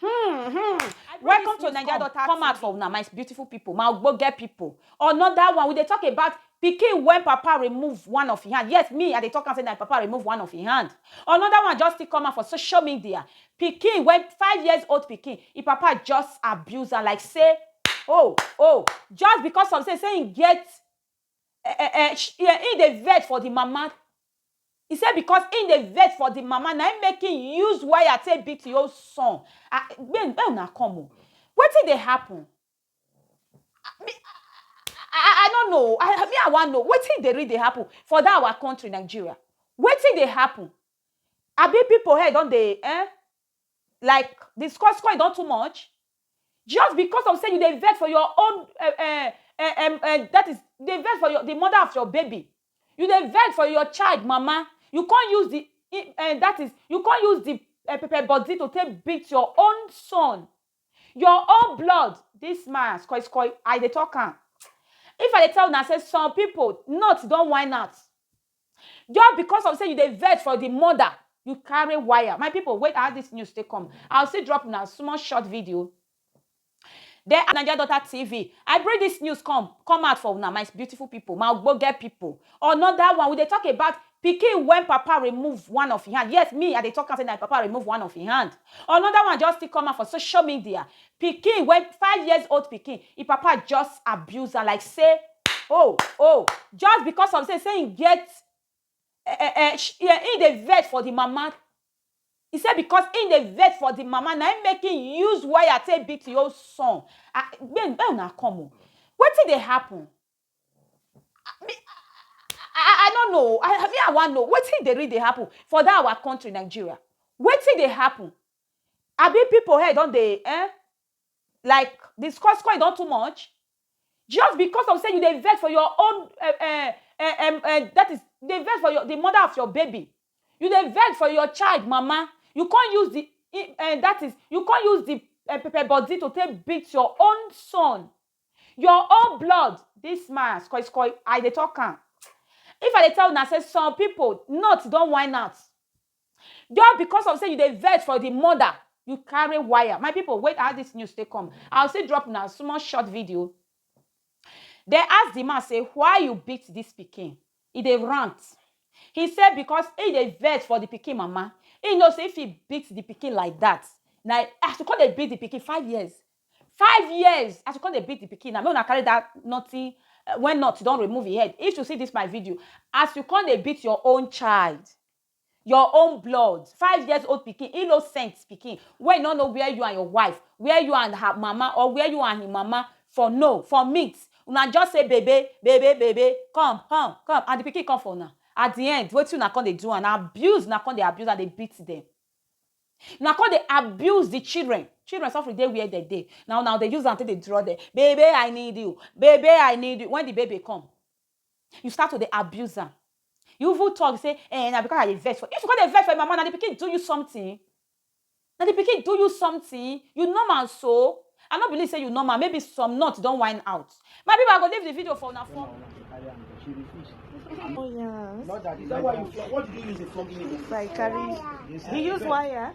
Hmm, hmm. Welcome to Naija Daughter Come out for una, my beautiful people, my ogbonge people. Another one, we dey talk about pikin when papa remove one of his hand yes me i dey talk am say na papa remove one of his hand another one just still come out for social media pikin when five years old pikin him papa just abuse am like say oh oh just because of say say him get eh, eh, eh, sh- yeah, he dey vex for the mama. He say because he dey vex for the mama, na him make him use wire take beat him own son. Ah, Make make una come o. Wetin dey happen? Ah, me- I, I, I don't know. I, me, I want know. Wetin dey really dey happen for that our country, Nigeria? Wetin dey happen? Abi people head don dey eh? Like the score score don too much. Just because of say you dey vex for your own eh, eh, eh, em, eh, that is dey vex for your the mother of your baby you dey vex for your child mama you come use the i- eh, that is you come use the eh, pepper body to take beat your own son your own blood this man skoi skoi i dey talk am if i dey tell una say some people nuts don whine out Just because of say you dey vex for the mother, you carry wire. My people, wait as this news take come. I'll still drop una small short video. Then Naija Daughter TV, I bring this news come come out for una, my beautiful people, my ogbonge people. Another one, we dey talk about pikin when papa remove one of him hand. Yes, me, I dey talk am say na papa remove one of him hand. Another one just still come out for social media. Pikin wey five years old pikin e papa just abuse am like say oh oh just because of say say im get eh eh eh sh eh im dey vex for the mama e say because im dey vex for the mama na im make im use wire take beat im own son ah make make una come o wetin dey happen ah me ah I no know o ah me I wan know wetin dey really dey happen for that our country Nigeria wetin dey happen Abi pipo head don dey eh like di score score e don too much just because of say you dey vex for your own eh eh eh em em dat is you dey vex for your di mother of your baby you dey vex for your child mama you come use di i eh dat is you come use di eh pepper body to take beat your own son your own blood dis man skoi skoi I dey talk am if I dey tell una say some pipo nut don wine out Just because of say you dey vex for the mother, you carry wire. My people, wait as this news take come. I'll still drop now small short video. They ask the man say, why you beat this pikin? He dey rant. He said because he dey vex for the pikin mama. He knows if he beats the pikin like that, now as you come dey beat the pikin five years, five years as you come dey beat the pikin now, make una carry that nothing eh, when not you don remove him head. If you see this my video, as you come dey beat your own child, your own blood five years old pikin innocent pikin wey no know where you and your wife where you and her mama or where you and him mama for know for meet una just say bebe bebe bebe come come come and the pikin come for una at the end wetin una come dey do am na abuse una come dey abuse am dey beat them una come dey abuse the children children suffering dey where dem dey na una dey use am take dey draw them bebe i need you bebe i need you when the baby come You start to dey abuse am. You even talk say, eh, na because I dey vex for you. If you come dey vex for your mama, na the pikin do you something? Na the pikin do you something? You normal so? I no believe say you normal. Maybe some nut don whine out. My people, I go leave the video for una for. Oh yeah. Not that. Is that why you? What did you use the plugging? Like carry. He use wire.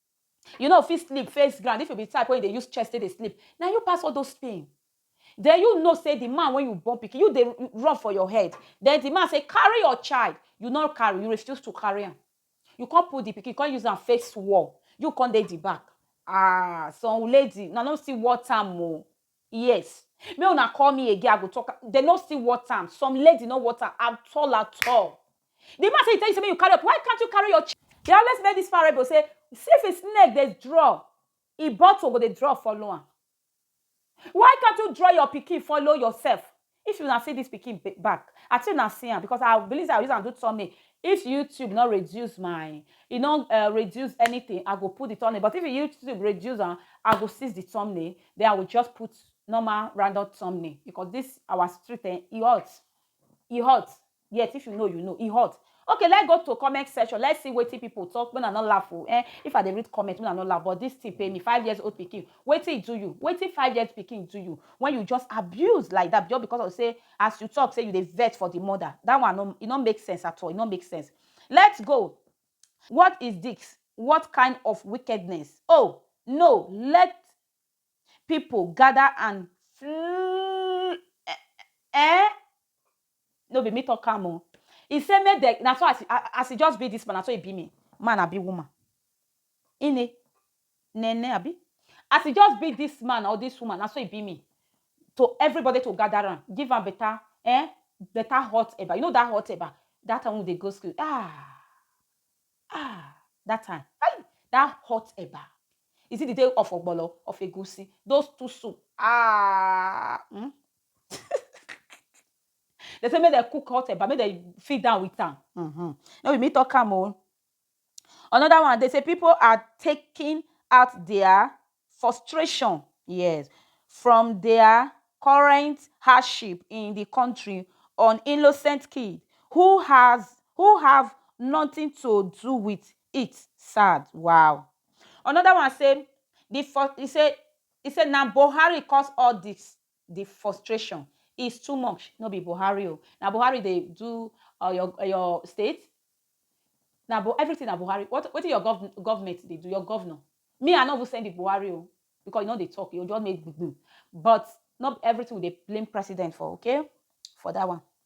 You no fit sleep face ground if you be type wey dey use chest take dey sleep, na you pass all those pain. Then you know say the man wey you born pikin, you dey run for your head. Then the man say carry your child, you no carry, you refuse to carry am. You come put the pikin, you come use am face wall, you come dey the back. Ah, some lady, una no still worth am o. Yes. Make una call me again I go talk am. Dem no still worth am. Some lady no worth am at all at all. The man say he tell you say make you carry up. Why can't you carry your ch They always make this parable say see if a snake dey draw, e bottle go dey draw follow am. Why can't you draw your pikin follow yourself? If una see this pikin back I think una see am because I believe say I use am do thumbnail if YouTube no reduce my e no uh, reduce anything I go put the thumbnail but if YouTube reduce am I go seize the thumbnail then I will just put normal random thumbnail because this our street eh, e hot e hot yet if you know you know e hot okay let's go to comment section let's see wetin people talk when i no laugh o eh if i dey read comment when i no laugh but this thing pay me five years old pikin wetin e do you wetin five years pikin do you when you just abuse like that just because of say as you talk say you dey vex for the mother that one no e no make sense at all e no make sense let's go what is this what kind of wickedness oh no let Pipu gather and fl eh no be me talk am o e say make dem na so as as e just be this man na so e be me man abi woman ine nene abi as e just be this man or this woman na so e be me to everybody to gather am give am better eh better hot eba you know that hot eba that time wey we dey go school ah Ah! That time, hey! That hot eba, is it the day of ogbolo, of egusi, those two soup, ah! Hmm? they say make dem cook hot eba, make dem feed down with am. Mm-hmm. No be me talk am o. Oh. Another one, they say people are taking out their frustration yes from dia current hardship in di kontri on innocent kids who has who have notin to do wit it sad wow anoda one say di for e say e say na buhari cause all dis. the frustration is too much no be buhari o na buhari dey do uh, your uh, your state na bu everything na buhari what wetin your gov government dey do your governor me i no even send the buhari o because you no dey talk you just make gbigbi but not everything we dey blame president for okay for that one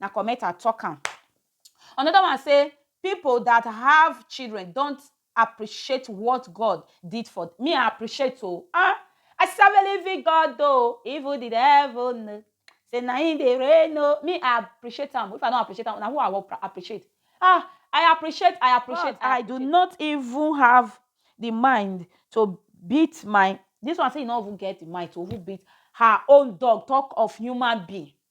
Na comment I talk am. Another one say people that have children don't appreciate what God did for me I appreciate oh ah I serve a living God oh even the devil know say na him dey reign oh me I appreciate am if I don't appreciate am na who I will appreciate ah I appreciate I appreciate God, I, I do not even have the mind to beat my this one say you no even get the mind to even beat her own dog talk of human being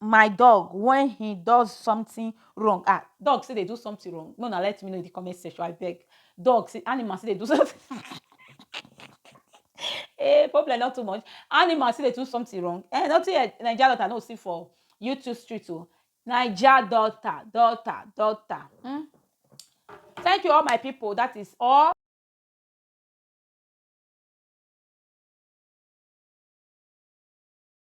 my dog when he does something wrong ah dog still dey do something wrong no na let me know in the comment section i beg dog see animal still dey do something eh problem not too much animal still dey do something wrong eh nothing eh naija daughter no see for youtube street o naija daughter daughter daughter hmm thank you all my people that is all